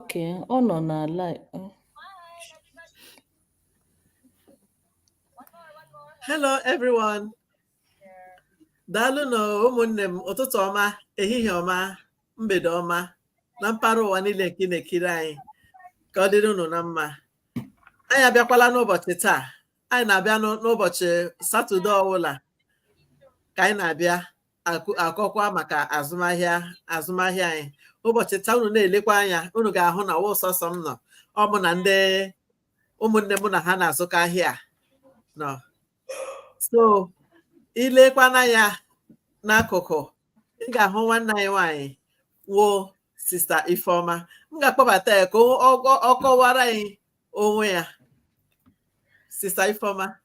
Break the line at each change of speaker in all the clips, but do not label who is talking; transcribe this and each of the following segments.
Okay, ọ nọ na live.
Hello everyone. Daalụnụ ụmụnne m ụtụtụ ọma, ehihie ọma, mgbede ọma na mpaghara ụwa niile nke ị na-ekiri anyị ka ọ dịrị unu na mma. Anyị abịakwala n'ụbọchị taa. Anyị na-abịa n'ụ- n'ụbọchị Satọde ọbụla ka anyị na-abịa akụ- akọkwa maka azụmahịa azụmahịa anyị ụbọchị taa unu na-elekwa anya unu ga-ahụ na ọwa sọsọ m nọ ọ mụ na ndị ụmụnne mụ na ha na-azụkọ ahịa nọ so i lekwanụ anya n'akụkụ ị ga-ahụ nwanne anyị nwanyị wụ sista ifeọma m ga-akpọbata ya ka ọ- ọ ọ kọwara anyị onwe ya sista ifeọma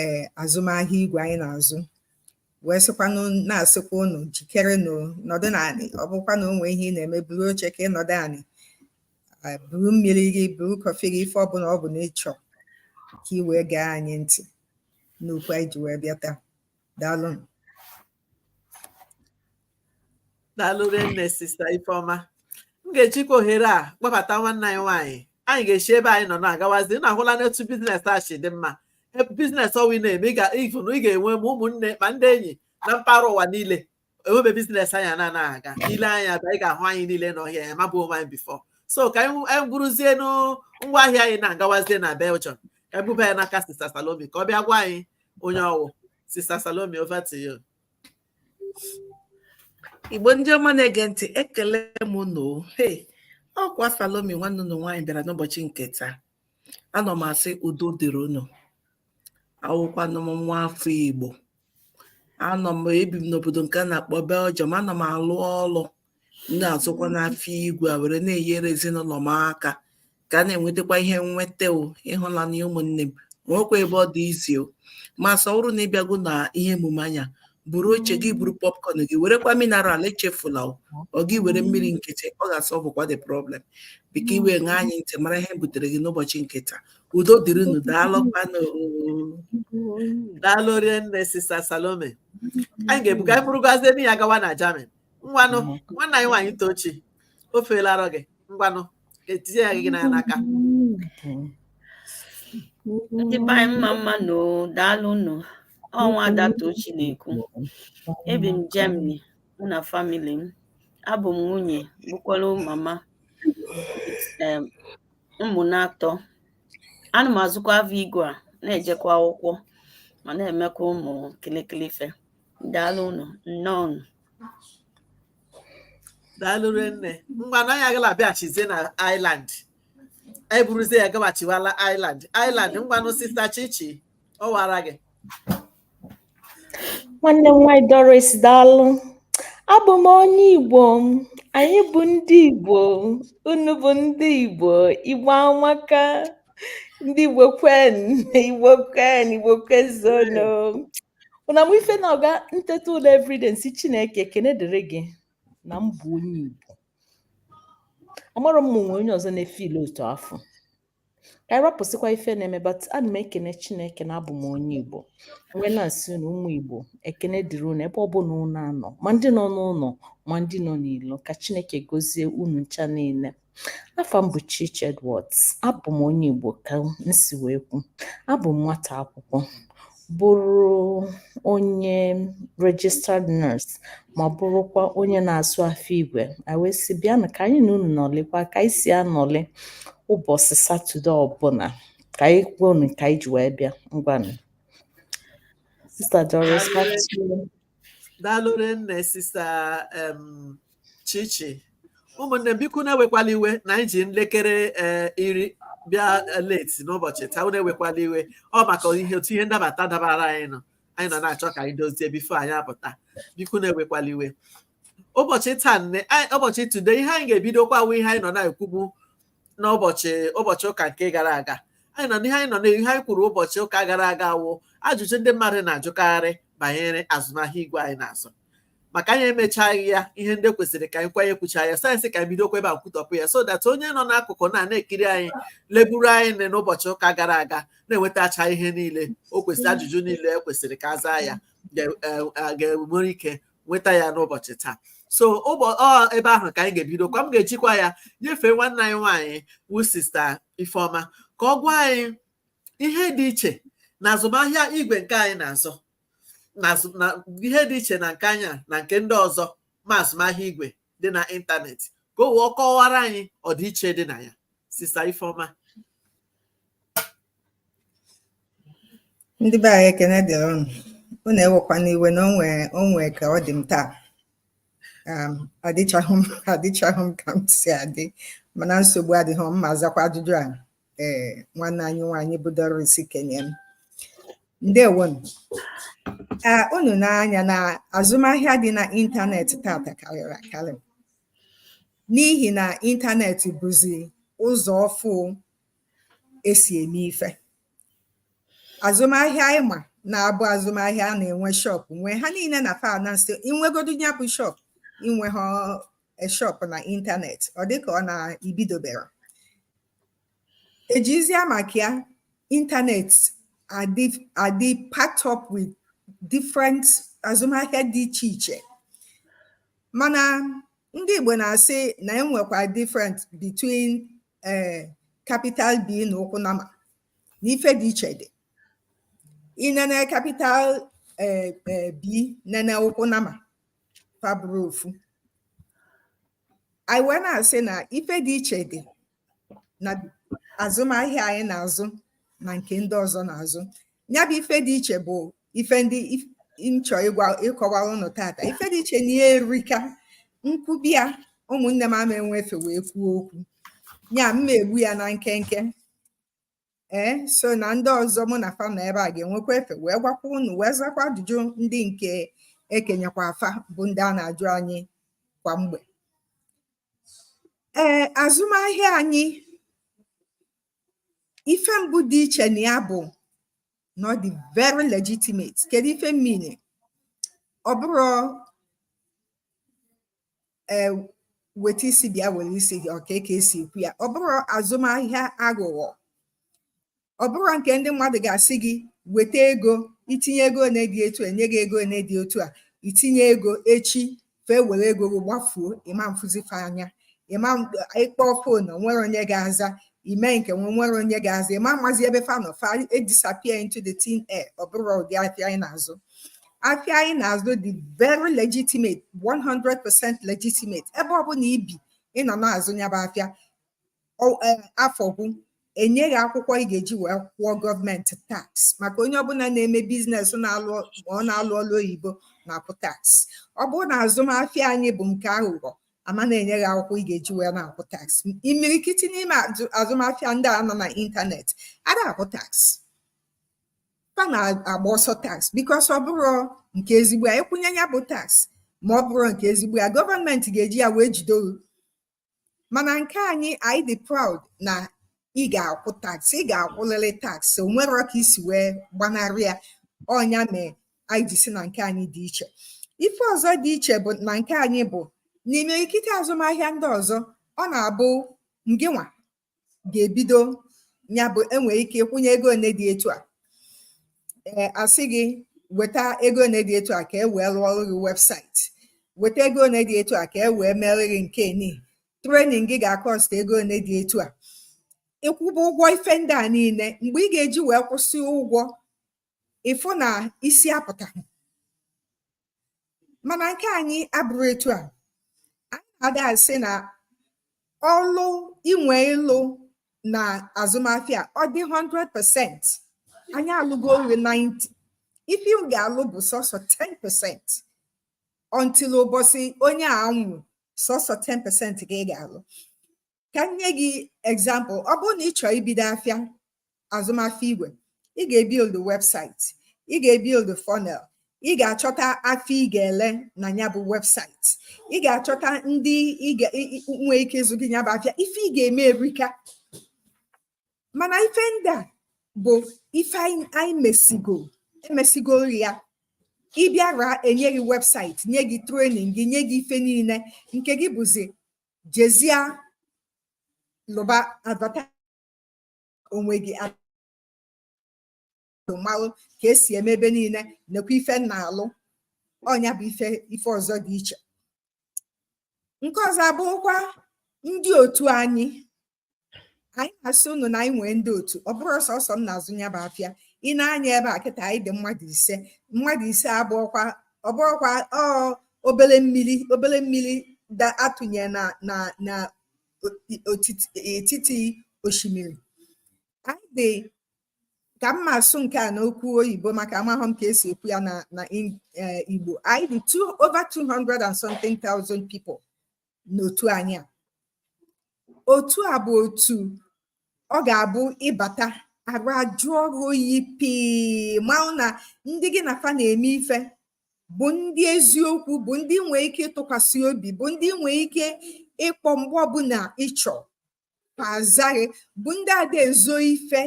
ee azụmahịa igwe anyị na-azụ wee sịkwanụ na-asịkwa ụnụ jikere nọdụ n'anị ọ bụkwa na o nwe ihe ị na-eme buru oche ka ị nọdụ anị buru mmiri gị buru kọfị gị ife ọbụna ọ bụ na ị chọ ka ị wee gee anyị ntị n'okwu anyị ji wee bịa taa daalụnụ
daalụ rinne sista ifeọma m ga-ejikwa ohere a kpọbata nwanne anyị nwaanyị anyị ga-esi ebe anyị nọ na-agawazi ị na-ahụlanụ etu biznes a si dị mma ebe biznes ọwụ ị na-eme ị ga- ịfụ na ị ga-enwe ma ụmụnne ma ndị enyi na mpaghara ụwa niile enwe ebe biznes anyị anaghị aga i lee anya ebe a ị ga-ahụ anyị niile nọ here amabu onwe anyị bifọ so ka anyị anyị buruzienụ ngwa ahịa anyị na-agawazie na Belgium ka anyị buba ya n'aka sista Salome ka ọ bịa gwa anyị onye ọwụ Sister Salome, over to you.
Igbo ndị ọma na-ege ntị ekele m unu hey ọkwa Salome nwanne unu nwaanyị bịara n'ụbọchị nke taa anọ m asị udo dịrị unu awụkwanụ m nwa afọ Igbo anọ m ebi m n'obodo nke a na-akpọ Belgium anọ m alụ ọlụ m na-azụkwanụ afịa igwe a were na-enyere ezinụlọ m aka ka a na-enwetakwa ihe nweta o ịhụnanya ụmụnne m nwekwa ebe ọ dị easy o ma sị ọ wụrụ na ị bịago na ihe emume anyị a buru oche gị buru popcorn gị werekwa mineral echefula o ọ gị were mmiri nkịtị ọ ga-asọvụkwa the problem biko i wee ṅaa anyị ntị mara ihe butere gị n'ụbọchị nke taa udo dịrịnụ daalụkwanụ
daalụ rinne sista salome anyị ga-ebuga anyị burugazie n'ihu agawa na Germany ngwanụ nwanne anyị nwaanyị tochi o feela arọ gị ngwanụ etinye ya gị n'anya
n'aka ndị be anyị mma mma nụ o daalụ nụ ọ nwa ada tochi na-ekwu ebi m Germany mụ na famili m abụ m nwunye bụkwara mama em, ụmụ n'atọ ana m azụkwa avịa igwe a na-ejekwa akwụkwọ ma na-emekwa ụmụ kịlịkịlị ife
daalụ nụ nnọọ daalụ nne ngwanụ anyị agala abịaghachizie na Ireland anyị buruzie ya gaghachiwala Ireland Ireland ngwanụ sista Chichi ọ wara gị
nwanne m nwaanyị Doris daalụ abụ m onye Igbo anyị bụ ndị Igbo unu bụ ndị Igbo Igbo amaka ndị Igbo kwenu Igbo kwenu Igbo kwezuonu unu ma ife na-aga m teta ụla everyday m sị chineke ekene dịrị gị na m bụ onye igbo amarọ m ma o nwe onye ọzọ na-efeel otu afụ ka anyị rapụsịkwa ife na-eme but ana m ekene chineke na abụ m onye igbo m wee na-asị unu ụmụ igbo ekene dịrị unu ebe ọbụla unu anọ ma ndị nọ n'ụlọ ma ndị nọ n'ilo ka chineke gozie unu ncha niile Afa m bụ Chichi Edwards. Abụ m onye Igbo ka m si wee kwu. Abụ m nwata akwụkwọ, bụrụ onye registered nurse ma bụrụkwa onye na-azụ afịa igwe. Anyị wee sị bịanụ ka anyị na unu nọlịkwa ka anyị si anọlị ụbọchị Satọde ọbụla ka anyị kwuo unu ka anyị ji wee bịa ngwanụ. Sista Doris, back to you.
Daalụ rinne sista um, chichi ụmụnne m biko unu ewekwala iwe na anyị ji n'elekere eh, iri bịa eh, late n'ụbọchị taa unu ewekwala iwe ọ maka ihe otu ihe ndabata dabara anyị nọ anyị nọ na-achọ ka anyị dozie before anyị apụta biko unu ewekwala iwe ụbọchị taa ihe anyị- ụbọchị today ihe anyị ga-ebidokwa wụ ihe anyị nọ na-ekwubu n'ụbọchị ụbọchị ụka nke gara aga anyị nọ n'ihe anyị nọ n'ihe anyị kwuru ụbọchị ụka gara aga wụ ajụjụ ndị mmadụ na-ajụkarị banyere azụmahịa igwe anyị na-azụ maka anyị emechaghị ya ihe ndị kwesịrị ka anyị kwanye kwucha ya so anyị sị ka anyị bidokwa ebe a kwutọpụ ya so that onye nọ n'akụkụ na na-ekiri anyị leburu anyị n'ụbọchị ụka gara aga na-enwetacha ihe niile o kwesịrị ajụjụ niile e kwesịrị ka a zaa ya ga-enwere e, ike nweta ya n'ụbọchị taa so ebe ahụ ka anyị ga-ebidokwa m ga-ejikwa ya nyefee nwanne anyị nwaanyị wụ sista Ifeọma ka ọ gwa anyị ihe dị iche na azụmahịa igwe nke anyị na-azụ na azụ- na ihe dị iche na nke anyị na nke ndị ọzọ ma azụmahịa igwe dị na ịntanetị ka o wee kọwara anyị ọdịiche dị na ya sista ifeọma
ndị be anyị ekene dịrị ụnụ ụnụ ewekwana iwe na o nwe o nwe ka ọ dị m taa um, adịchaghị m adịchaghị m ka m si adị mana nsogbu adịghị m ma-azakwa ajụjụ a ee nwanne anyị nwaanyị bụ Doris kenye m ndewonu ee unu n'anya na azụmahịa dị na ịntanetị tata karịrị akarị n'ihi na ịntanetị bụzi ụzọ ọfụ esi eme ife azụmahịa ịma na-abụ azụmahịa a na-enwe shọp nwe ha niile na finance inwegodu ya bụ shọp inwe ha shọp na ịntanetị ọ dịka ọ na ibidoberọ Ejizia maka ya internet adị adị packed up with different azụmahịa dị iche iche. Mana ndị Igbo na-asị na e nwekwa different between um capital B na ụkwụ nama na ife dị iche dị. Ị nene capital um um B nene ụkwụ nama fa abụrọ ofu. anyị wee na-asị na ife dị iche dị na azụmahịa anyị na-azụ na nke ndị ọzọ na-azụ ya bụ ife dị iche bụ ife ndị m chọ ịkọwa ụnụ tata ife dị iche na ya erika m kwube ya ụmụnne m ama enwe efe wee kwuo okwu ya m ma egbu ya na nkenke ee so na ndị ọzọ mụ na fa na ebe a ga-enwekwa efe wee gwakwa unu wee zakwa ajụjụ ndị nke ekenyekwa fa bụ ndị a na-ajụ anyị kwa mgbe ee azụmahịa anyị ife mbụ dị iche na ya bụ na ọ dị very legitimate kedu ife m mean ọ bụrọ ee weta isi bịa were isi gị ọkwa ka esi ekwu ya ọ bụrọ azụmahịa aghụghọ ọ bụrọ nke ndị mmadụ ga-asị gị weta ego itinye ego one dị etu enye gị ego one dị otu a itinye ego echi fa ewere ego gị gbafuo ịma afụzi fa anya ịma ịkpọ fon onwerọ onye ga-aza ime nke a nwerọ onye ga-aza ịma amazi ebe fa nọ fa edisappear into the thin air ọ bụrọ ụdị afịa anyị na-azụ afịa anyị na-azụ dị very legitimate 100% legitimate ebe ọ bụla ibi ị nọ na-azụ nya bụ afịa e, afọ gwụ enye gị akwụkwọ ị ga-eji wee kwụọ gọọmenti tax maka onye ọbụla na-eme business na-alụ ọ na-alụ ọlụ oyibo na-akwụ tax ọ bụrụ na azụmahịa anyị bụ nke aghụghọ ama na-enye gị akwụkwọ ị ga-eji wee na-akwụ tax imirikiti n'ime azụmahịa ndị a nọ na ịntanetị ada akwụ tax fa na-agba ọsọ tax because ọ bụrọ nke ezigbo ya ị kwụọ nya bụ tax ma ọ bụrọ nke ezigbo ya gọọmenti ga-eji ya wee jide ori mana nke anyị anyị dị proud na ị ga-akwụ tax ị ga-akwụlịrị tax onwerọ ka isi wee gbanarị ya ọ nya mee anyị ji si na nke anyị dị iche ife ọzọ dị iche bụ na nke anyị bụ n'imirikiti azụmahịa ndị ọzọ ọ na-abụ ngịnwa ga-ebido ya bụ i nwee ike ịkwụnye ego one dị etu a ee a sị gị weta ego one dị etu a ka e wee lụọrọ gị webụsaịtị weta ego one dị etu a ka e wee mere gị nke ni training gị ga-akọst ego one dị etu a ị kwụba ụgwọ ife ndị a niile mgbe ị ga-eji wee kwụsị ụgwọ ị fụ na isi apụtaghị mana nke anyị abụrọ etu a anyị na-ada asị na ọlụ i nwe ịlụ na azụmahịa ọ dị 100% anyị alụgoro ị 90 ife ị ga-alụ bụ sọsọ 10% until ụbọsị onye a nwụ sọsọ 10% ka ị ga-alụ ka m nye gị example ọ bụrụ na ị chọọ ibido afịa azụmahịa igwe ị ga-ebuild webụsaịtị ị ga-ebuild funnel ị ga-achọta afịa ị ga-ele na ya bụ webụsaịtị ị ga-achọta ndị nwee ike ịzụ gị ya bụ afịa ife ị ga-eme erika mana ife ndị a bụ ife anyị mesigo emesigo ya ị bịara e nye gị webụsaịtị nye gị training gị nye gị ife niile nke gị bụzi jezie lụba advata onwe gị malụ ka e si eme ebe niile nekwa ife m na-alụ ọ nya bụ ife ife ọzọ dị iche nke ọzọ abụrụkwa ndị otu anyị anyị na-asị unu na anyị nwee ndị otu ọ bụrọ sọsọ m na-azụ ya bụ afịa ị nee anya ebe a kịta anyị dị mmadụ ise mmadụ ise abụrọkwa ọ bụrọkwa ọ obere mmiri obere mmiri da atụnye na na na etiti osimiri anyị dị ka m ma asụ nke a n'okwu oyibo maka amahụ m ka e si ekwu ya na na e, igbo anyị dị over 200 and something thousand people n'otu anyị a otu a bụ otu ọ ga-abụ ị bata arụ ajụọ gị oyi pii malụ na ndị gị na fa na-eme ife bụ ndị eziokwu bụ ndị ị nwee ike ịtụkwasị obi bụ ndị ị nwee ike ịkpọ mgbe ọbụla ị chọ fa aza gị bụ ndị ada ezo ife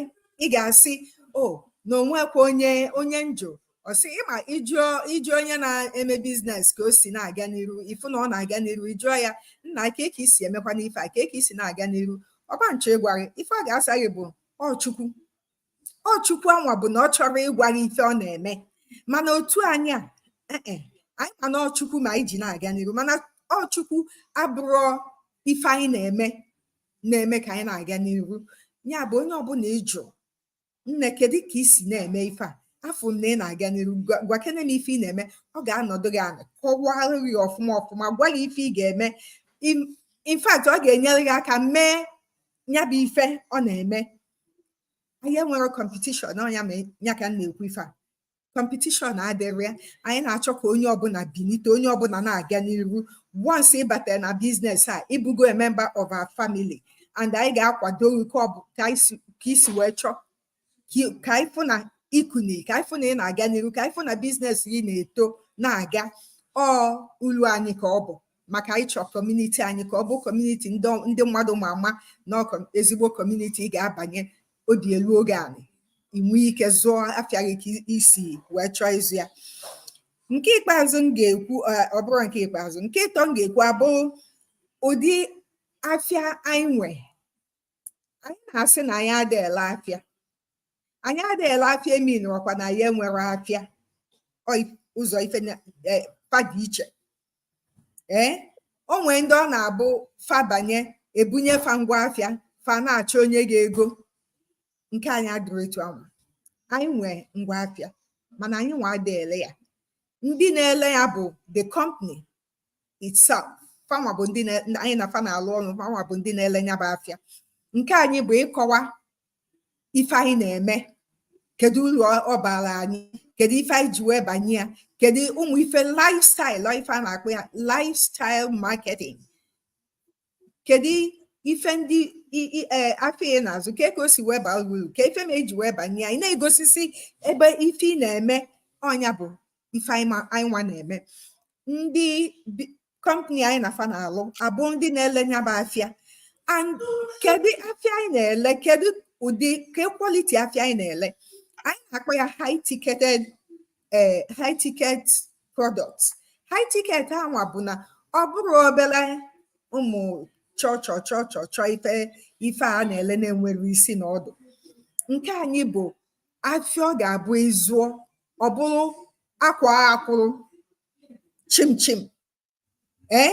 ị ga-asị o oh, na o nwekwa onye onye njọ ọ sị ị ma ị jụọ onye na-eme biznes ka o si na-aga n'iru ị fụ na ọ na-aga n'iru ị jụọ ya nna kee ka i si emekwa n'ife a kee ka i si na-aga n'iru ọ ma achọ ịgwa gị ife ọ ga-asa gị bụ ọ chukwu ọ chukwu anwa bụ na ọ chọrọ ịgwa gị ife ọ na-eme mana otu anyị a eh, eh, anyị ma na ọ chukwu ma anyị ji na-aga n'iru mana ọ chukwu abụrọ ife anyị na-eme na-eme ka anyị na-aga n'iru ya bụ onye ọbụla ị jụ nne kedu ka ị si na-eme ife a afụ na ị na-aga n'iru gwakene m ife ị na-eme ọ ga-anọdụ gị ala kọwaa gị ọfụma ọfụma gwa gị ife ị ga-eme in fact ọ ga-enyere gị aka mee ya bụ ife ọ na-eme anyị enwere kọmpetishọn ọ nya ma ya ka m na-ekwu ife a kọmpetishọn adịrị ya anyị na-achọ ka onye ọbụla bilite onye ọbụla na-aga n'iru once ị batara na biznes a ị bụgo a member of our family and anyị ga-akwado gị ka ọ bụ ka i si wee chọọ ka anyị fụ na i kuni ka anyị fụ na ị na-aga n'iru ka anyị fụ na biznes gị na-eto na-aga ọ ulu anyị ka ọ bụ maka anyị chọọ kọmuniti anyị ka ọ bụ kọmuniti ndị mmadụ ma ama na ezigbo kọmuniti ị ga-abanye obi eluo gị anị i nwee ike zụọ afịa gị ka i si wee chọọ ịzụ ya nke ikpeazụ m ga-ekwu ọ bụrụ nke ikpeazụ nke ịtọ m ga-ekwu abụ ụdị afịa anyị nwe anyị na-asị na anyị adịghị ele afịa anyị adịghị ele afịa eminụrọkwa na anyị enwere afịa ụzọ ife e, fa dị iche ee eh, o nwee ndị ọ na-abụ fa banye ebunye fa ngwa afịa fa na-achọ onye ga-ego nke anyị adịrị etu anwa anyị nwee ngwa afịa mana anyị nwa adị ele ya ndị na-ele ya bụ the company itself fanwa bụ ndị anyị na fa na-alụ ọrụ fanwa bụ ndị na-ele ya bụ afịa nke anyị bụ ịkọwa ife anyị na-eme kedu uru ọ bara anyị kedu ife anyị ji wee banye ya kedu ụmụ ife lifestyle ife a na-akpọ ya lifestyle marketing kedu ife ndị e, afịa ị na-azụ ka ka o si wee baa uru ka ife ma eji wee banye ya ị na-egosisi ebe ife ị na-eme ọ nya bụ ife anyị nwa na-eme ndị kọmpani anyị na fa na-alụ abụ ndị na-ele nya bụ afịa and kedu afịa anyị na-ele kedu ụdị ke kwaliti afịa anyị na-ele anyị na-akpọ ya high ticketed eh, high ticket product high ticket anwa bụ na ọ bụrụ obere ụmụ chọchọ chọchọ chọ ife ife a na-ele na-enwere isi na ọdụ nke anyị bụ afịa ọ ga-abụ ị zụọ ọ bụrụ akwaa akwụrụ chimchim ee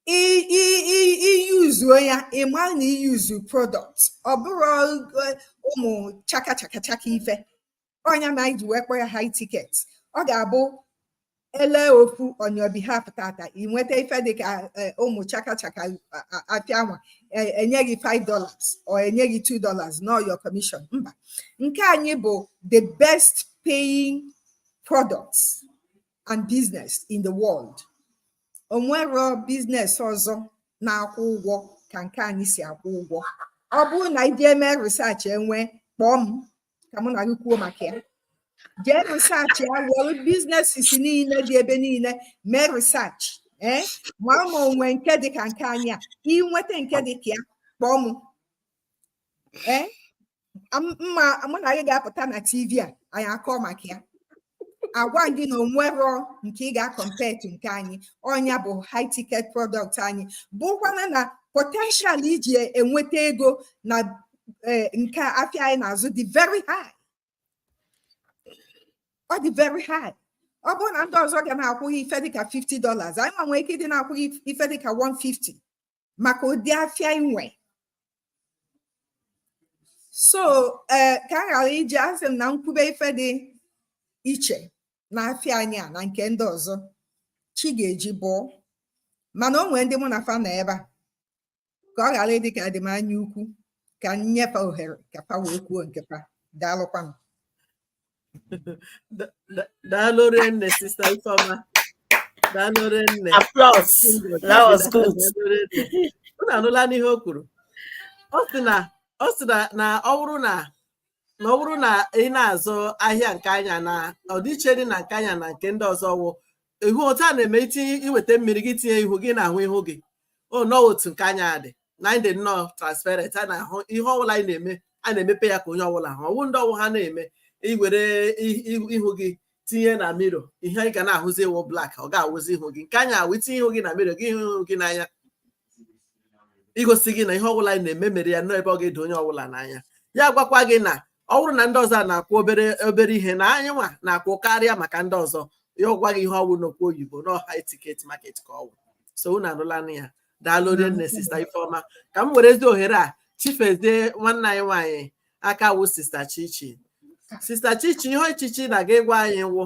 iyuzuo ya ị ma na iyuzu product ọ bụrọ e, ụmụ chaka chaka chaka ife ọ nya na anyị ji wee kpọ ya high ticket ọ ga-abụ e lee ofu on your behalf tata ị nweta ife dịka e, ụmụ chaka chaka afịa nwa e, enye gị 5 dollars or enye gị 2 dollars na ọ your commission mba nke anyị bụ the best paying products and business in the world o nwerọ business ọzọ na-akwụ ụgwọ ka nke anyị si akwụ ụgwọ ọ bụrụ na i jee mee research e nwee kpọọ m ka mụ na gị kwuo maka ya jee research ya were businesses niile dị ebe niile mee research ee ma ma o nwe nke dị ka nke anyị a i nweta nke dị ka ya kpọọ m ee ma mụ na gị ga-apụta na tv a anyị akọ maka ya agwa gị na o nwerọ nke ị ga-acompete nke anyị ọ nya bụ high ticket product nya bụkwa na na potential iji enweta ego na e, nke afịa anyị na-azụ dị very high ọ dị very high ọ bụrụ na ndị ọzọ ga na-akwụ gị ife dịka 50 dollars anyị nwa nwee ike ịdị na-akwụ gị ife dịka 150 maka ụdị afịa i nwe so eh, ka a ghara iji asị m na m kwube ife dị iche na afịa anyị a na nke ndị ọzọ chi ga-eji bọọ mana o nwee ndị mụ na fa nọ ebe a ka ọ ghara ịdị ka adị m anya ukwu ka m nye fa ohere ka fa wee kwuo nke fa daalụkwanụ
daalụ nne sista ifeọma daalụ nne
unu
anụlanụ ihe o kwuru ọ sị na ọ sị na ọ bụrụ na na ọ bụrụ na ị na-azụ ahịa nke anyị a na ọdịiche dị na nke anyị a na nke ndị ọzọ wụ ị hụ otu a na-eme i tinye i weta mmiri gị tinye ihu gị na-ahụ ihu gị ọ nnọọ otu nke anyị a dị na anyị dị nnọọ transparent a na-ahụ ihe ọbụla anyị na-eme a na-emepe ya ka onye ọbụla hụ ọ wụ ndị ọ wụ ha na-eme i were i- i- ihu gị tinye na mirror ihe ị ga na-ahụzi awụ black ọ ga-awụzi ihu gị nke anyị a wụ i tinye ihu gị na mirror gị hụ ihu gị n'anya igosi gị na ihe ọbụla anyị na-eme mere ya nnọọ ebe ọ ga-edo onye ọbụla n'anya ya agwakwa gị na ọ bụrụ na ndị ọzọ a na-akwụ obere obere ihe na anyị nwa na-akwụ karịa maka ndị ọzọ ya agwa gị ihe ọ wụ n'okwu oyibo na ọ high ticket market ka ọ wụ so unu anụlanụ ya daalụ onye nne sista ifeọma ka m werezi ohere a chifezie nwanne anyị nwaanyị aka wụ sista chichi sista chichi ihe chichi na-aga ịgwa anyị wụ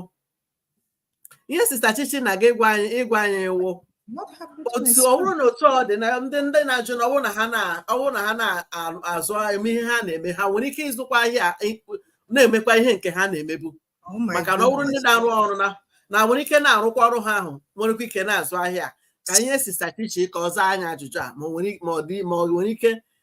ihe sista chichi na-aga ịgwa anyị ịgwa anyị wụ What happened to my otu ọ spoon? bụrụ na otu ọ dị na ndị ndị na-ajụ na ọ bụrụ na ha na- ọ bụrụ na ha na-azụ eme ihe ha na-eme ha nwere ike ịzụkwa ahịa ị- na-emekwa ihe nke ha na-emebu Oh my maka na ọ bụrụ ndị goodness. na-arụ ọrụ na na nwere ike na-arụkwa ọrụ ha ahụ nwerekwa ike na-azụ ahịa ka ihe sista chichi ka ọ zaa anyị ajụjụ a ma ọ nwere ma ọ dị ma ọ nwere ike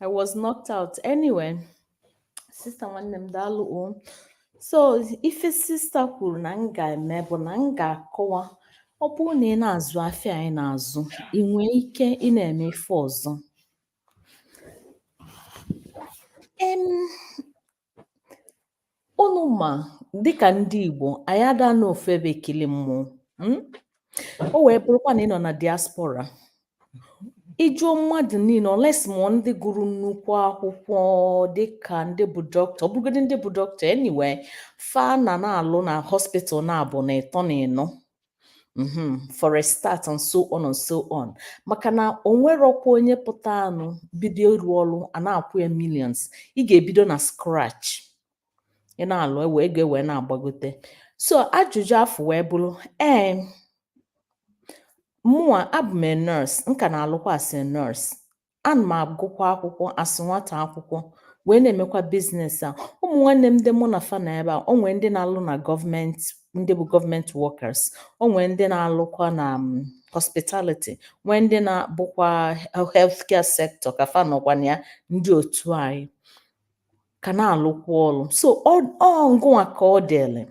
I was knocked out. Anyway, sister nwanne m daalụ o. So ife sista kwuru na m ga-eme bụ na m ga-akọwa ọ bụrụ na ị na-azụ afịa anyị na-azụ ị nwee ike ị na-eme ife ọzọ. Em, Unu ma dịka ndị Igbo anyị ada anọ ofu ebe ekili mmụọ hmm? o wee bụrụkwa na ị nọ na diaspora ị jụọ mmadụ niile unless ma ndị gụrụ nnukwu akwụkwọ dịka ndị bụ dọkịta ọ bụrụgodị ndị bụ dọkịta anyway fa na na-alụ na hospital naabọ na ịtọ na ịnọ Mm-hmm. for a start and so on and so on maka na o nwerọkwa onye pụtanụ bido ịrụ ọrụ a na-akwụ ya millions ị ga-ebido na scratch ị na-alụ ewe ego wee na-agbagote so ajụjụ afụ wee bụrụ ee mụa abụ m nurse m ka na-alụkwa as a nurse ana m agụkwa akwụkwọ as nwata akwụkwọ wee na-emekwa biznes a ụmụ nwanne m ndị mụ na fa nọ ebe a o nwee ndị na-alụ na gọọmenti ndị bụ gọọmenti workers o nwee ndị na-alụkwa na mm, hospitality nwee ndị na-abụkwa healthcare sector ka fa nọkwa na ya ndị otu anyị ka na-alụkwa ọrụ so ọ ọ ngụnwa ka ọ dịrị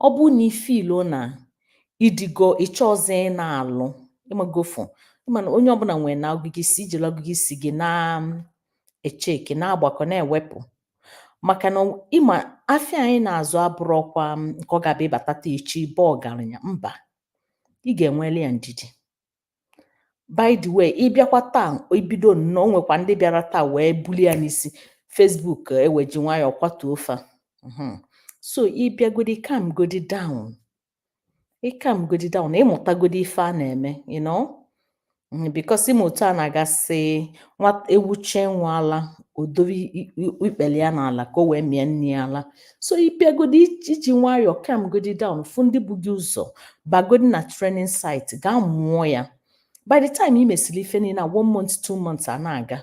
ọ bụrụ na ị fiilu na ị dịgo ị chọọzị ị na-alụ ị mago fụ ị ma na onye ọbụla nwere na agụgụ isi i jili agụgụ isi gị na um, echeki na-agbakọ na-ewepụ maka na ịma afịa anyị na-azụ abụrọkwa um, nke ọ ga-abụ ị bata taa echi bụ ọgaranya mba ị ga-enweli ya ndidi by the way ị bịakwa taa i bido nnọọ o nwekwa ndị bịara taa wee bulie ya n'isi Facebook e wee ji nwayọọ kwatuo fa. Mhm. so ị bịagodi calm godi down ị calm godi down ị mụtagodi ife a na-eme you know Mm, because ị ma otu a na-aga asị nwa ewu chọọ ịṅụ ala o dobe i- i- ikpele ya n'ala ka o wee mịa nne ya ala so ị bịagodi i ji nwayọọ calm godi down fụ ndị bu gị ụzọ bagodi na training site gaa mụọ ya by the time ị mesịrị ife niile na one month two months a na-aga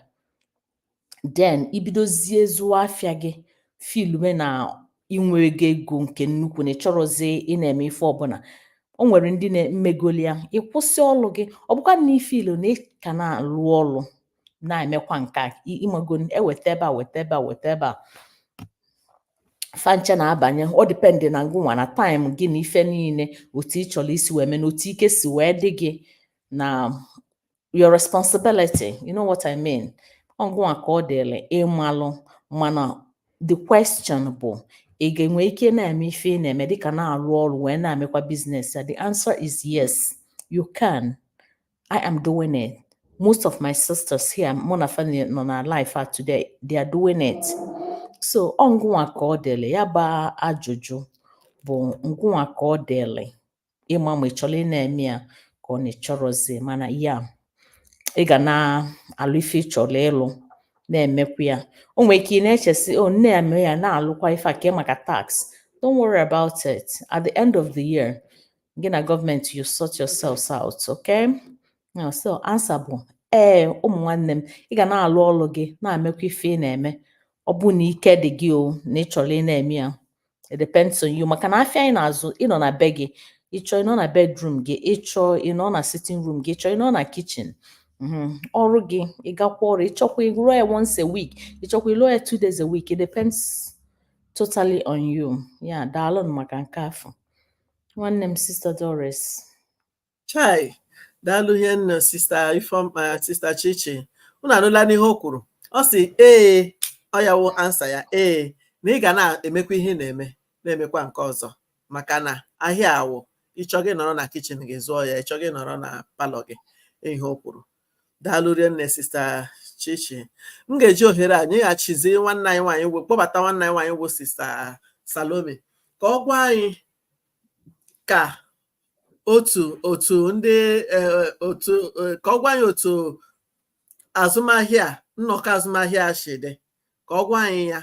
then i bidozie zụọ afịa gị fiilu na i nwego ego nke nnukwu na ị chọrọzị ị na-eme ife ọbụla o nwere ndị na-emegoli ya ị kwụsị ọlụ gị ọ bụkwa na ị fiilu na ị ka na-alụ ọlụ na-emekwa nke a ịmago eweta ebe a weta ebe a weta ebe a fancha na-abanye ọ dịpendị na ngụnwa na time gị na ife niile otu ị chọrọ isi wee mee na otu ike si wee dị gị na your responsibility you know what I mean ọ ngụnwa ka ọ dịrị ịmalụ mana the question bụ ị ga-enwe ike na-eme ife ị na-eme dịka na-alụ ọrụ wee na-emekwa business a the answer is yes you can I am doing it. Most of my sisters here, mụ na fa nọ na live a today, they are doing it. So ọ ngụnwa ka ọ dịrị ya bụ ajụjụ bụ ngụnwa ka ọ dịrị ịma ma ị chọrọ ị na-eme ya ka ọ na ị chọrọzi mana ya ị ga na-alụ ife ị chọrọ ịlụ na-emekwa ya o nwere ike ị na-eche sị o na ya mee ya na-alụkwa ife a kee maka tax don't worry about it at the end of the year gị na gọọmenti you sort yourselves out okay now so answer bụ ee ụmụ nwanne m ị ga na-alụ ọlụ gị na-emekwa ife ị na-eme ọ bụ na ike dị gị o na ị chọrọ ị na-eme ya it depends on you maka na afịa anyị na-azụ ịnọ na be gị ịchọ ịnọ na bedroom gị ịchọ ịnọ na sitting room gị ịchọ ịnọ na kitchen Mm-hmm. ọrụ gị ịgakwa ọrụ ịchọkwa ịlụọ ya once a week ịchọkwa ịlụọ ya two days a week it depends totally on you ya daalụ maka nke afụ nwanne m sista Doris
chai daalụ hie nne sista ifeọma sista chichi unu anụla n'ihe o kwuru ọ sị ee ọ ya wụ ansa ya ee na ị ga na-emekwa ihe ị na-eme na-emekwa nke ọzọ maka na ahịa a wụ ịchọ gị nọrọ na kitchen gị zụọ ya ịchọ gị nọrọ na palọ gị ihe o kwuru daalụ rienne sista chichi m ga-eji ohere a nyeghachizi nwanne anyị nwaanyị wụ kpọbata nwanne anyị nwaanyị wụ sista salome ka ọ gwa anyị ka otu otu ndị eh, otu eh, ka ọ gwa anyị otu azụmahịa a, nnọkọ azụmahịa a si dị ka ọ gwa anyị ya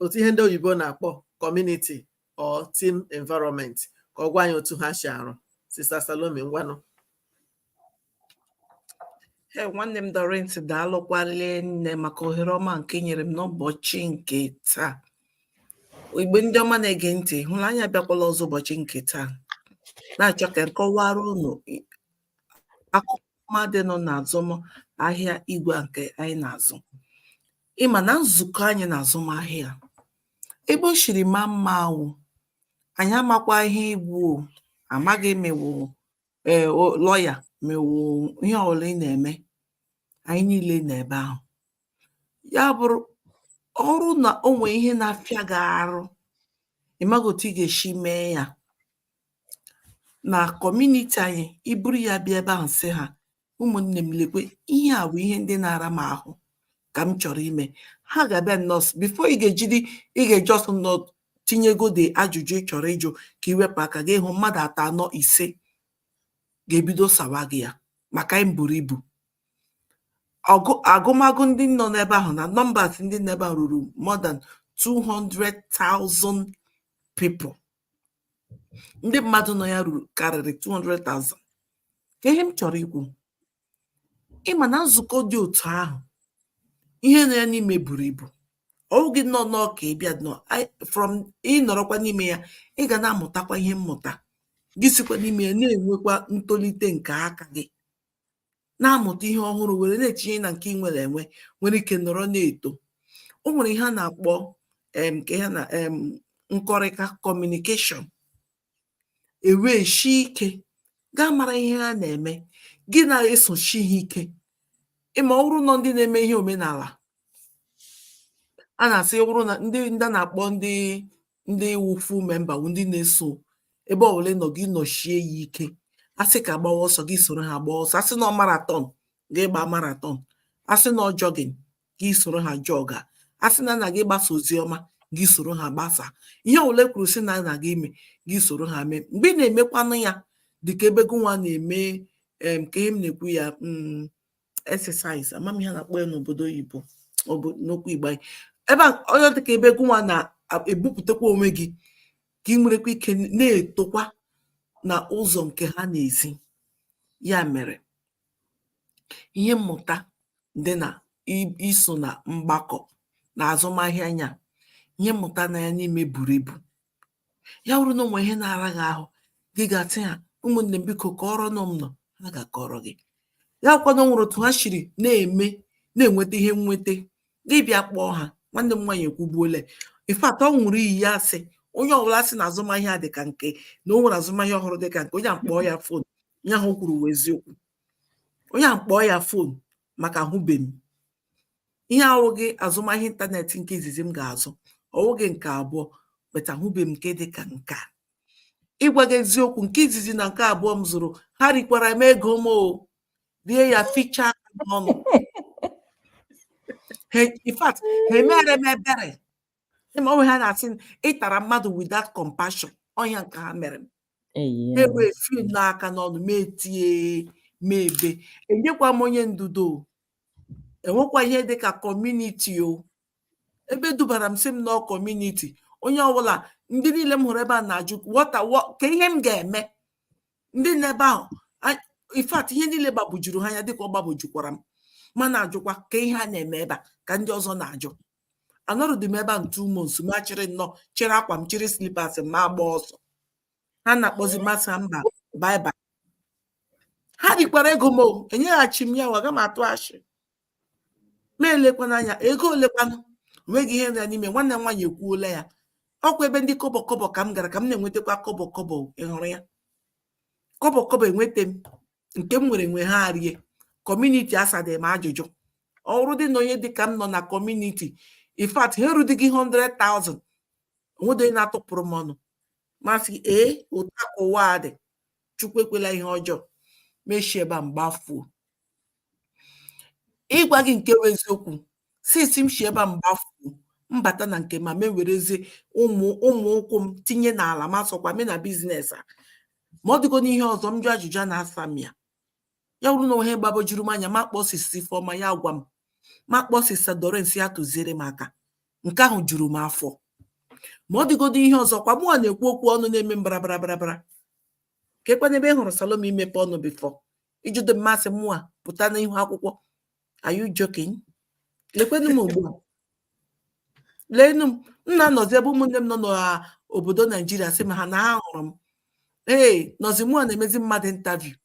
otu ihe ndị oyibo na-akpọ community or team environment ka ọ gwa anyị otu ha si arụ sista salome ngwanụ
Ee, nwanne m Doris daalụkwa rie nne maka ohere ọma nke ị nyere m n'ụbọchị nke taa. Igbo ndị ọma na-ege ntị, hụrụ anyị abịakwala ọzọ ụbọchị nke taa. Na-achọ ka m kọwara unu i- akụkọ ọma dị nọ n'azụmahịa igwe a nke anyị na-azụ. Ị ma na nzukọ anyị na azụmahịa, ebe o siri maa mma wụ, anyị amakwa ihe ị wụ o, amaghị ma ị wụ, ee lọya ma ị wụ ihe ọbụla ị na-eme anyị niile nọ ebe ahụ ya bụrụ ọ bụrụ na o nwee ihe na-afịa gị arụ ịmaghị otu ị ga-esi mee ya na kọmuniti anyị i buru ya bịa ebe ahụ sị ha ụmụnne m lekwe ihe a wụ ihe ndị na-ara m ahụ ka m chọrọ ime ha ga-abịa nnọọ so before ị ga-ejidi ị ga-eji ọsọ nnọọ tinyegode ajụjụ ị chọrọ ịjụ ka i wepụ aka gị ahụ mmadụ atọ anọ ise ga-ebido sawa gị ya maka anyị buru ibu agụmagụ ndị nọ n'ebe ahụ na numbers ndị nọ ebe ahụ ruru more than 200,000 people ndị mmadụ nọ ya ruru karịrị 200,000 ka ihe m chọrọ ikwu ị ma na nzukọ dị otu ahụ ihe nọ ya n'ime buru ibu ọ wụghị nọ nnọọ ka ị bịa nọ from ị nọrọkwa n'ime ya ị ga na-amụtakwa ihe mmụta gị sikwa n'ime ya na-enwekwa ntolite nke aka gị na-amụta ihe ọhụrụ were na-etinye na nke ị nwere enwe nwere ike nọrọ na-eto o nwere ihe a na-akpọ em ka ya na em nkọrịta communication ewee shi ike gaa mara ihe ha na-eme gị na-esoshi ha ike ị ma ọ wụrụ nọ ndị na-eme ihe omenala a na-asị ọ wụrụ na ndị ndị a na-akpọ ndị ndị wụ full member wụ ndị na-eso ebe ọbụla ị nọ gị nọshie ya ike a sị ka a gbawa ọsọ gị soro ha gbaa ọsọ a sị na marathon gị gba marathon a sị na jogging gị soro ha jọga a sị na a na-aga ịgbasa ozi ọma gị soro ha gbasa ihe ọbụla e kwuru sị na a na-aga ime gị soro ha mee mgbe ị na-emekwanụ ya dịka ebe gụnwa na-eme ka ihe m na-ekwu ya mm, exercise ama m ihe a na-akpọ ya n'obodo oyibo n'okwu igbo anyị ebe a ọ ya-adị ka ebe gụnwa na-ebupụtakwa onwe gị ka ị nwerekwa ike na-etokwa na ụzọ nke ha na-esi ya mere ihe mmụta dị na iso na mgbakọ na azụmahịa anyị a ihe mmụta nọ ya n'ime buru ibu ya wụrụ na o nwe ihe na-ara gị ahụ gị gaa sị ha ụmụnne m biko kọọrọnụ m nọ ha ga-akọrọ gị ya wụkwanụ o nwere otu ha shiri na-eme na-enweta ihe nweta gị bịa kpọọ ha nwanne m nwaanyị ekwubuole in fact ọ ṅụrụ iyi ya sị onye ọbụla sị na azụmahịa dị ka nke a na o nwere azụmahịa ọ hụrụ dị ka nke a onye ahụ kpọọ ya phone onye ahụ kwuru eziokwu onye ahụ kpọọ ya phone maka ahụbeghị ihe a awụghị azụmahịa ịntanetị nke izizi m ga-azụ ọ wụghị nke abụọ but ahụbe m nke dị ka nke a ịgwa gị eziokwu nke izizi na nke abụọ m zụrụ ha rikwara m ego m o rie ya fichaa n'ọnụ in fact ha emere m ebere ịma onwe ha na-asị m, ịtara mmadụ without compassion ọnya nke ha mere m Eyi. ha ewee fil n'aka n'ọnụ m etie m ebe enyekwa m onye ndudo o. enwekwa ihe dị ka kọmuniti o ebe dubara m sị m nọọ kọmuniti onye ọbụla ndị niile m hụrụ ebe a na-ajụ wọta wọ- ka ihe m ga-eme ndị nọ ebe ahụ a- in fact ihe niile gbabujuru ha anya dịka ọ gbabujukwara m ma na-ajụkwa ka ihe a na-eme ebe a ka ndị ọzọ na-ajụ anọrụdị m ebe a two months ma chịrị nnọọ chịrị akwa m chịrị slipas m ma agba ọsọ ha na-akpọzi masa mba baibai ha rikwara ego m enyeghachi m ya o aga m atụ ashị ma elekwana anya ego olekwanụ onweghị ihe dị ya n'ime nwanne m nwaanyị ekwuola ya ọkwa ebe ndị kọbọ kọbọ ka m gara ka m na-enwetakwa kọbọ kọbọ ịhụrụ ya kọbọ kọbọ enweta m nke m nwere enwe ha erie kọmuniti asadị m ajụjụ ọ hụrụdị na onye dịka m nọ na kọmuniti in fact ha erudighị 100,000 onwedị onye na-atụpụrụ m ọnụ m asị ee otu a ka ụwa a dị chukwu ekwela ihe ọjọọ m eshi ebe a m gbafuo ịgwa gị nke bụ eziokwu since m si ebe a m gbafuo m bata na nke a m ewerezie ụmụ ụmụ ụkwụ m tinye n'ala ma sọkwa me na biznes a ma ọ dịgo n'ihe ọzọ m jụ ajụjụ a na-asa m ya ya wụrụ na onwe ihe gbagojuru m anya m akpọọ sista Ifeọma ya agwa m m akpọọ sista Dorens ya atụziere m aka nke ahụ juru m afọ ma ọ dịgodo ihe ọzọ kwa mụwa na-ekwu okwu ọnụ na-eme mbarabara barabara ka ekwe n'ebe ị hụrụ Salome imepe ọnụ bifọ ijido m ma sị mụa pụta n'ihu akwụkwọ are you joking lekwenụ m ugbu a leenụ m m na-anọzi ebe ụmụnne m nọ n'obodo naijiria sị m ha na ha hụrụ m ee nọzi mụ a na-emezi mmadụ interview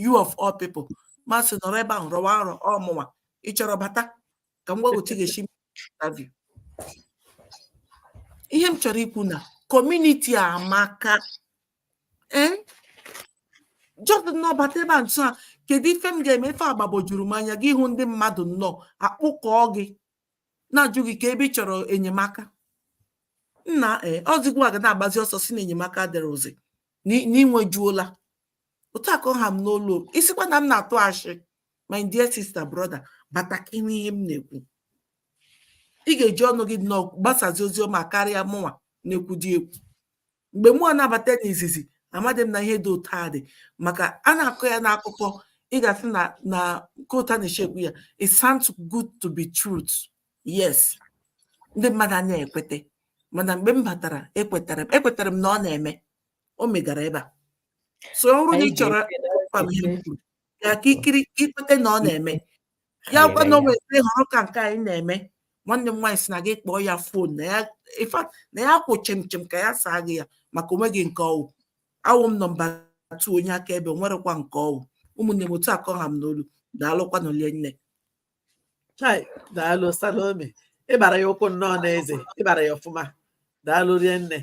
you of all people m asị nọrọ ebe ahụ rọwa nrọ ọ mụnwa ị chọrọ bata ka m gwa gị otu ị ga-esi interview ihe m chọrọ ikwu na kọmuniti a amaka ee eh? just nnọọ bata ebe a nso a kedu ife m ga-eme ife agbagwojuru m anya gị ahụ ndị mmadụ nnọọ akpụkọọ gị na-ajụ gị ka ebe ị chọrọ enyemaka nna ee eh, ozigbo ị ga na-agbazi ọsọ sị na enyemaka dịrịzị na i nwejuola otu a ka ọ ha m n'olu ị sịkwa na m na-atụ ashị my dear sister brother bata ka n'ihe m na-ekwu ị ga-eji ọnụ gị nnọọ gbasazi ozi ọma karịa mụnwa na-ekwudị ekwu mgbe mụ na-abata n'izizi amadị m na ihe dị otu a dị maka a na-akọ ya n'akụkọ ị ga-asị na ka otu a na-eshi ekwu ya it sounds good to be truth yes ndị mmadụ anaghị ekwete mana mgbe m batara ekwetara m ekwetara m na ọ na-eme o megara ebe a so ọ bụrụ na ị chọrọ ya ka i kiri ka i kwete na ọ na-eme ya wụkwa na o nweghị ọrụ ka nke anyị na-eme nwanne m nwaanyị sị na gị kpọọ ya fon na ya ifa na ya kwụ chimchim ka ya saa gị ya maka o nweghị nke ọ wụ awụ m nọmba tu onye aka ebe nwerekwa nke ọ wụ ụmụnne m otu a ka ọ ha m n'olu daalụkwanụ rie nne chai daalụ
salome ị gbara ya ụkwụ nnọọ n'eze ị gbara ya ọfụma daalụ rie nne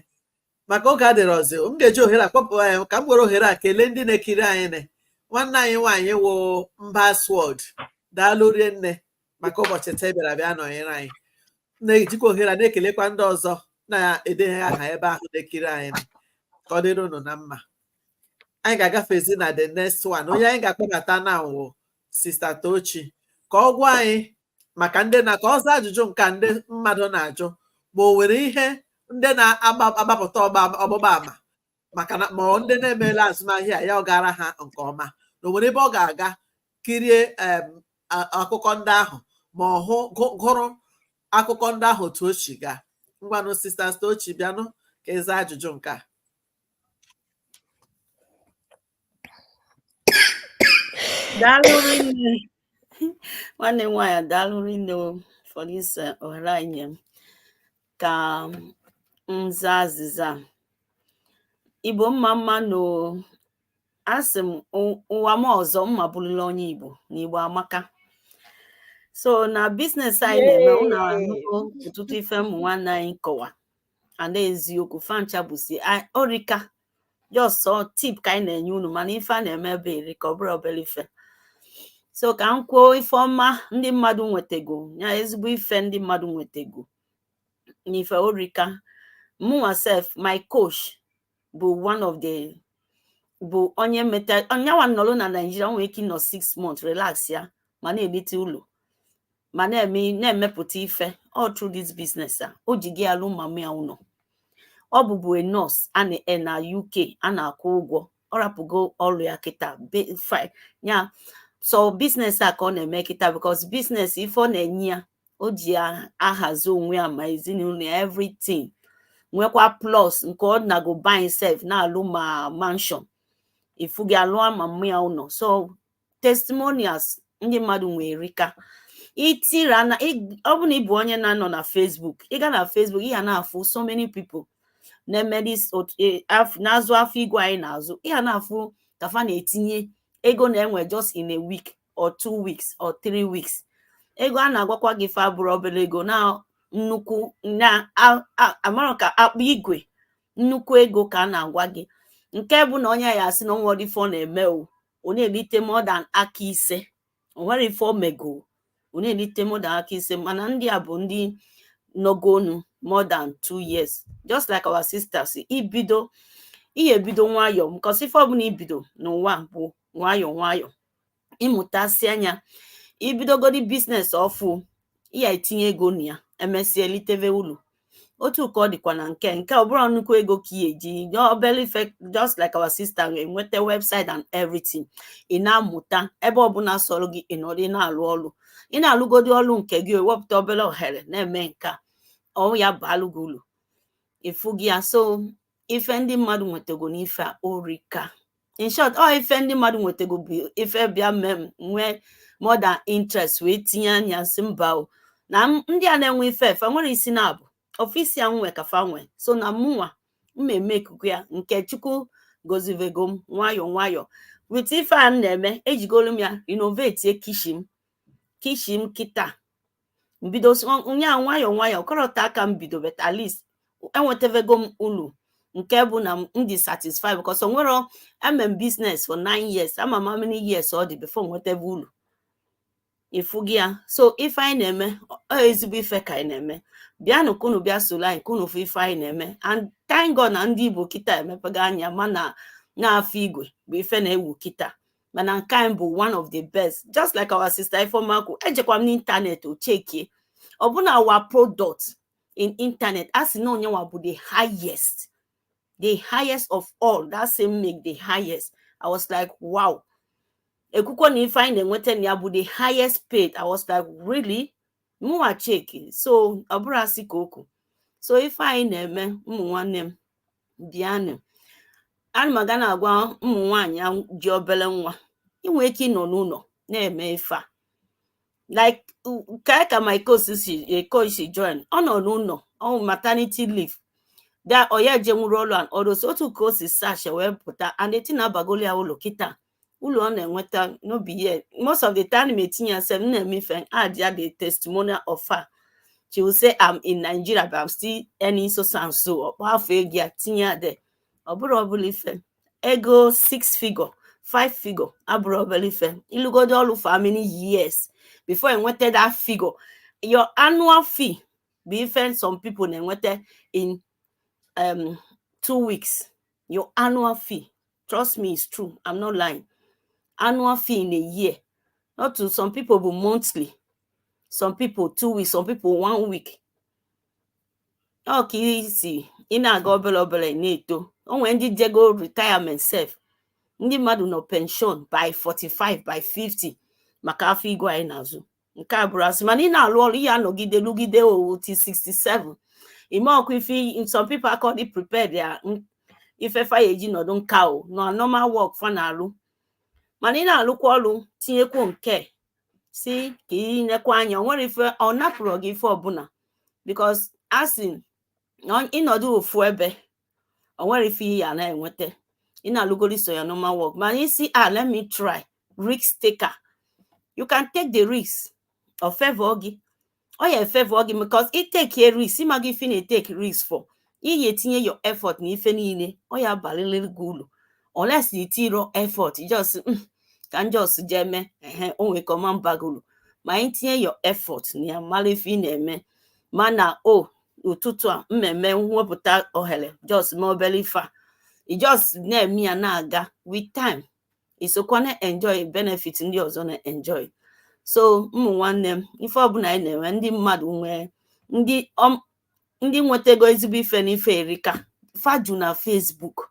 maka oge adịrị ọzọ m ga-eji ohere a kpọpụ anyị ka m were ohere a kelee ndị na-ekiri anyị nwanne anyị nwaanyị wụ mba sword daalụ rie nne maka ụbọchị taa ị bịara bịa nọnyere anyị na-ejikwa ohere a na-ekelekwa ndị ọzọ na-edenye aha ebe ahụ na-ekiri anyị ka ọ dịrị unu na mma anyị ga-agafezi na the next one onye anyị ga-akpọbata now wụ sista tochi ka ọ gwa anyị maka ndị na ka ọ zaa ajụjụ nke ndị mmadụ na-ajụ ma o nwere ihe ndị na-agbapụta ọgbụgba ama maka na ma ndị na-emela azụmahịa a ọ gara ha nke ọma na o nwere ebe ọ ga-aga kirie akụkọ ndị ahụ ma ọ wụ gụrụ akụkọ ndị ahụ otu o si gaa ngwanụ sista Tochi bịanụ ka ị zaa ajụjụ nke a
daalụ rinne nwanne m nwaanyị daalụ rinne o for this eh, ohere a i nye m ka m zaa azịza a. igbo mma mma nụ asị m "Ụ- ụwa m ọzọ m ma-abụrụla onye igbo na igbo amaka so na business anyị na-eme unu anụgo ọtụtụ ife ụmụ nwanne anyị kọwa and eziokwu fa ncha bụsi o rika just sọ tip ka anyị na-enye unu mana ife a na-eme ebe a erika ọ bụrọ obere ife so ka m kwuo ife ọma ndị mmadụ nwetego ya ezigbo ife ndị mmadụ nwetego n'ife o rika mụnwa sef my coach bụ one of the bụ onye meta yanwa nọrọ na Nigeria nwere ike ịnọ six months relax ya ma na-elite ulu ma na-eme na-emepụta ife all through this business a o jigo ya lụ mama ya ụlọ ọ bụbu a nurse a na-e na UK a na-akwụ ụgwọ ọ rapụgo ọrụ ya kịta be- fi- ya so business a ka ọ na-eme kịta because business ife ọ na-enye ya o ji ya ahazi onwe ya ma ezinụlọ ya everything nwekwa plus nke ọ na-ago be ya sef na-alụ ma mansion ifu gị alụọ mama ya ụlọ so testimonials ndị mmadụ nwee erika itira na ọ bụ na ị bụ onye na-anọ na Facebook ị ga na Facebook ị ga na-afụ so many people na-eme e, na-azụ afịa igwe anyị na-azụ ị ga na-afụ ka fa na-etinye ego na-enwe just in a week or two weeks or three weeks ego a na-agwakwa gị ife abụrọ obere ego na nnukwu na amara ka akpa igwe nnukwu ego ka a na-agwa gị nke bụ na onye ya-asị na o nwerọdị ife ọ na-eme o ọ na-elite more than aka ise o nwere ife o mego ọ na-elite more than aka ise mana ndị a bụ ndị nọgonu more than two years just like our sister si bido ihe ebido nwayọọ because ife ọbụna ibido n'ụwa bụ nwayọọ nwayọọ ị mụtasịa nya i bidogodi business ọfụ ị ya-etinye ego na ya emesịa eliteve ulu otu ka ọ dịkwa na nke nke ọ bụrọ nnukwu ego ka ị ya-eji obele ife just like our sister enweta website and everything ị na-amụta ebe ọbụna sọlụ gị ị nọdụ na-alụ ọlụ ị na-alụgodi ọlụ nke gị ewepụta obele ohere na-eme nke a ọ ya-abalụ gị ulu ị fụgo ya so ife ndị mmadụ nwetago n'ife a orika in short ọ ife ndị mmadụ nwetago bụ ife bịa mee m nwee more than interest wee tinye anya sị mba o na m- ndị a na-enwe ife ife nwere isi na ọ bụ ofu isi a m nwe ka fa nwe so na mụnwa m eme ikuku ya nke chukwu gozivego m nwayọ nwayọ with ife a m na-eme ejigolu m ya renovate kitchen m kitchen m kịta m bido nya nwayọ nwayọ kịta ka m bido but at least enwetavego m ulu nke bụ na m dị satisfied because o nwere eme m business for nine years ama m how many years ọ dị before nweteve ulu ị fụgo ya so ife anyị na-eme ọ ezigbo ife ka anyị na-eme bịanụ ka unu bịa solu anyị ka unu fụ ife anyị na-eme and thank God na ndị Igbo kịta emepego anya mana na afọ igwe bụ ife na-ewu kịta mana nke anyị bụ one of the best just like our sister Ifeoma kwu ejekwa m n'internet o chekie ọbụna our product in internet a sị na anyịnwa bụ the highest the highest of all that same make the highest i was like wow e kwukwuo na ife anyị na-enweta na ya bụ the highest paid i was like really mụnwa chekie so ọ bụrọ asị ka o kwu so ife anyị na-eme ụmụ nwanne m bịanụ ana m aga na-agwa ụmụ nwaanyị ji obele nwa i nwe ike ịnọ n'ụnọ na-eme ife a like ka ka my coach si eh, coach si join ọ nọ n'ụnọ on maternity leave that ọ na-ejenwurọ ọlụ and all those otu ka o si searchie wee pụta and the thing abagolu ya ulu kịta ulu ọ na-enweta no be here most of the time na-etinye ya sef nna eme ife add ya the testimonial of her she will say i'm in nigeria but i'm still earning so so and so ọ kpọọ afa ego ya tinye ya there ọ bụrọ obele ife ego six figure five figure abụrọ obele ife ị lụgodu ọlụ for how many years before i nweta that figure your annual fee bụ ife some people na-enweta in um, two weeks your annual fee trust me it's true i'm not lying annual fee in a year not to some people bụ monthly some people two weeks some people one week ọ ka e si ị na-aga obele obele ị na-eto o nwee ndị jego retirement sef ndị mmadụ nọ pension by 45 by 50 maka afịa igwe anyị na-azụ nke a abụrọ asị mana ị na-alụ ọlụ ị ya-anọgide lụgide until 67 ime ọkụ ife some people akadị prepared ya ife fa ya-eji nọdụ nka ọ na normal work fa na-alụ mana ị na-alụkwa ọlụ tinyekwu nke sị ka ị nekwa anya o nwerọ ife ọ napụrọ gị ife ọbụna because a sị na ị nọdụ ofu ebe o nwerọ ife ị ya-enweta ị na-alụgoro sọ your normal work mana ị sị ah, let me try risk taker you can take the risk ọ favor gị ọ ya-afavor gị because i take a risk ị mago ife ị na-etake risk for ị ya-etinye your effort na ife niile ọ ya-abalịlị gị ulu unless i tirọ effort just mm, ka m just jee mee ehe o nwerọ ka ọ ma-aba gị ulu ma i tinye your effort na ya mara ife ị na-eme mana o ụtụtụ a mmemme wepụta ohele just mee obele ife a i just na-eme ya na-aga with time i sokwa na-enjoy benefit ndị ọzọ na-enjoy so ụmụ nwanne m ife ọbụna anyị na-enwe ndị mmadụ nwee ndị ọm- ndị nwetago ezigbo ife na ife a erika fa ju na Facebook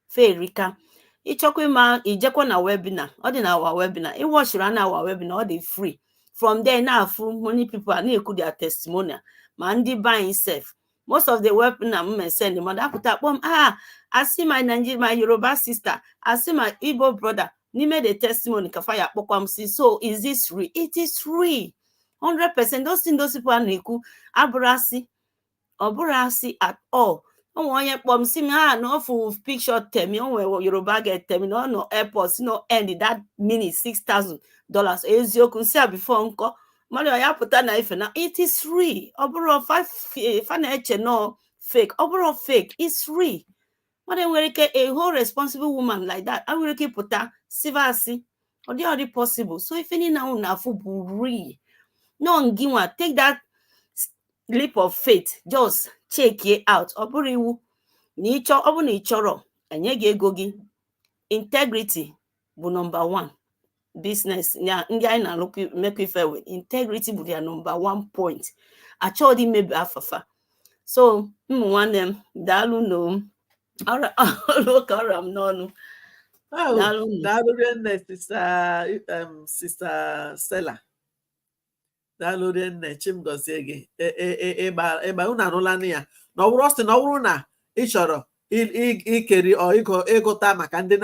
fa erika ị chọkwa ịma i jekwa na webinar ọ dị na our webinar ị watchịrị a na our webinar ọ dị free from there na-afụ many people a na-ekwu their testimonial ma ndị be anyị sef most of the webinar m sende mmadụ a pụta kpọọ m ah I see my Nigeria my Yoruba sister I see my Igbo brother n'ime the testimony ka fa ya-akpọkwa m sị so is this real it is real 100 percent those things those people a na-ekwu abụrọ asị ọ bụrọ asị at all o nwere onye kpọ m sị m ah na ọ fụ picture temi o nwere yoruba girl temi na ọ nọ airport sị na ọ earned that minute 6000 dollars eziokwu m sị ya before nkọ marọ ya pụta na ife na it is real ọ bụrọ fa na-eche na ọ fake ọ bụrọ fake is real mmadụ enwerọ ike a whole responsible woman like that enwerọ ike ịpụta siva asị ọ dị ọ dị possible so ife niile unu na-afụ bụ real na ọ ngịnwa take that leap of faith just check it out ọ bụrọ iwu na ị chọ ọ bụrụ na ị chọrọ e nye gị ego gị integrity bụ number one business a ndị anyị na-alụkọ mekọ ife with integrity bụ their number one point achọghị imebi afa fa so ụmụ nwanne m daalụnụ ọ ka ọ ra m n'ọnụ daalụ
nne sister stella daalụ nne chi m gọzie gị e, e, e, ịgba unu anụla na ya na ọ bụrụ ọ sị na ọ bụrụ na ị chọrọ ikiri ịgụta maka ndị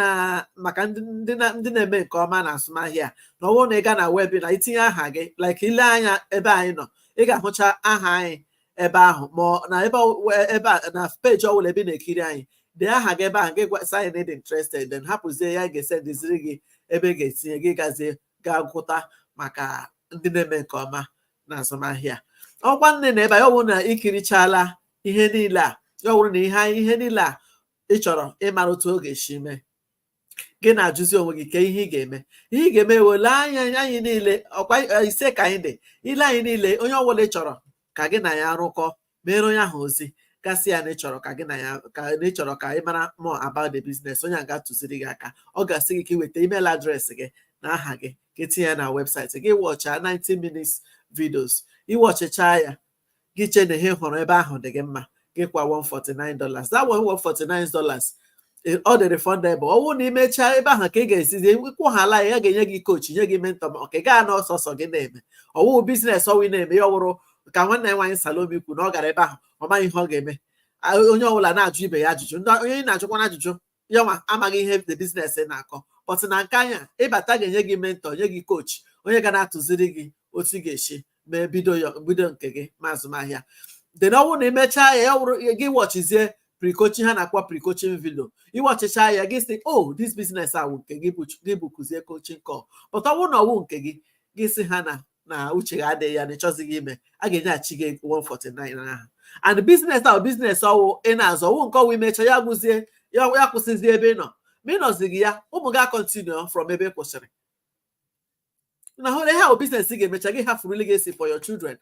na-eme nke ọma na azụmahịa na ọwụ na ị ga na webinar itinye aha gị like ile anya ebe anyị nọ ị ga-ahụcha aha anyị ebe ahụ ma na ebe a na peji ọbụla ebe ị na-ekiri anyị dee aha gị ebe ahụ gị gwa anyị na ị dị interested then hapụzie ya ga-esendiziri gị ebe ị ga-etinye gị gazie ga-agụta maka ndị na-eme nke ọma na azụmahịa ọkwa nne na ebe a ya ọ bụrụ na ikirichala ihe niile a ya ọ bụrụ na ihe ihe niile a ị chọrọ ịmara otu ọ ga-esi mee gị na-ajụzi onwe gị kee ihe ị ga-eme ihe ị ga-eme wụ ile anya anyị niile ọkwa ise ka anyị dị ile anyị niile onye ọbụla ị chọrọ ka gị na ya rụkọ meere onye ahụ ozi gị asị ya na ị chọrọ ka gị na ya ka na ị chọrọ ka ị mara more about the business onye a ga-atụziri gị aka ọ ga-asị gị ka ị weta email address gị na aha gị ka e tinye ya na website gị wọcha 90 minutes videos iwọchịcha ya gị chee na ihe ị hụrụ ebe ahụ dị gị mma gị kwa 149 dollars that 149 dollars e- ọ dị refundable ọ bụrụ na ị mechaa ebe ahụ ka ị ga-esizi kwụhala ya a ga-enye gị coach nye gị mentor ma ọ ka ị gaa na ọsọsọ gị na-eme ọ wụghị business ọwụ ị na-eme ya ọ wụrụ ka nwanne anyị nwaanyị Salome kwu na ọ gara ebe ahụ ọ maghị ihe ọ ga-eme A- onye ọbụla na-ajụ ibe ya ajụjụ ndị onye ị na-ajụkwana ajụjụ ya nwa amaghị ihe the business na-akọ but na nke anyị a ị bata a ga-enye gị mentor nye gị coach onye ga na-atụziri gị otu ị ga-esi mee bido ya bido nke gị ma azụmahịa then ọ bụrụ na imechaa ya ya wụrụ gị wọchizie pre-coaching ha na-akpọ pre-coaching video iwọchicha ya gị sị o this business a wụ nke gị bụ- gị bụkụzie coaching call but ọwụ na ọwụ nke gị gị sị ha na na uche gị adịghị ya na ịchọzighị ime a ga-enyeghachi gị 149 ahụ and business a wụ business ọwụ ị na-azụ ọwụ nke ọwụ imecha ya gwụzie ya ya kwụsịzie ebe ị nọ ma ị nọzighị ya ụmụ gị acontinue from ebe ị kwụsịrị na hụrụ ihe ahụ business ị ga-emecha gị hafụrụ legacy for your children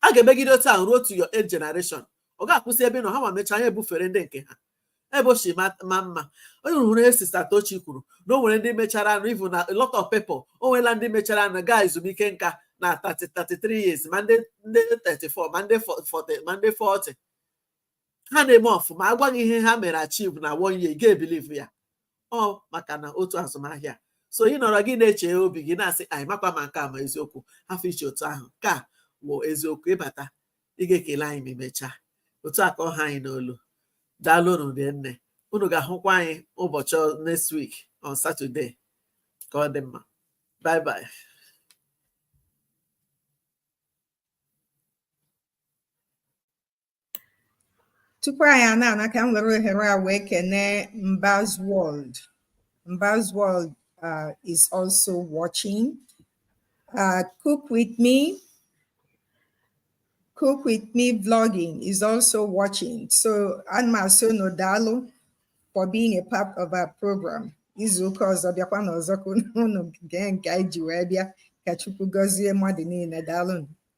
a ga-emegide otu ahụ ruo to your eighth generation ọ ga-akwụsị ebe ị nọ ha nwa mechaa ya ebufere ndị nke ha ebe o si ma ma mma onye hụrụ ihe Sister Tochi kwuru na o nwere ndị mecharanụ even a lot of people o nweela ndị mecharanụ gaa ezumike nka na 30 33 years ma ndị ndị 34 ma ndị 40 ma ndị 40 ha na-eme ọfụma a gwa gị ihe ha mere achieve na one year ga ebilivu ya ọ maka na otu azụmahịa so ị nọrọ gị na-eche obi gị na-asị anyị makwa ma nke a ma eziokwu hafụ iche otu ahụ ka wụ eziokwu ị bata ị ga-ekele anyị ma emechaa otu a ka ọ ha anyị n'olu daalụ unu ndị nne unu ga-ahụkwa anyị ụbọchị ọ- next week on Saturday ka ọ dị mma bye bye
tupu anyị a na-ana ka m were ohere a wee kenee Mbaz World Mbaz World uh, is also watching uh, cook with me cook with me vlogging is also watching so ana m asị unu daalụ for being a part of our program izu ụka ọzọ bịakwanụ ọzọ ka unu gee nke anyị ji wee bịa ka Chukwu gọzie mmadụ niile daalụ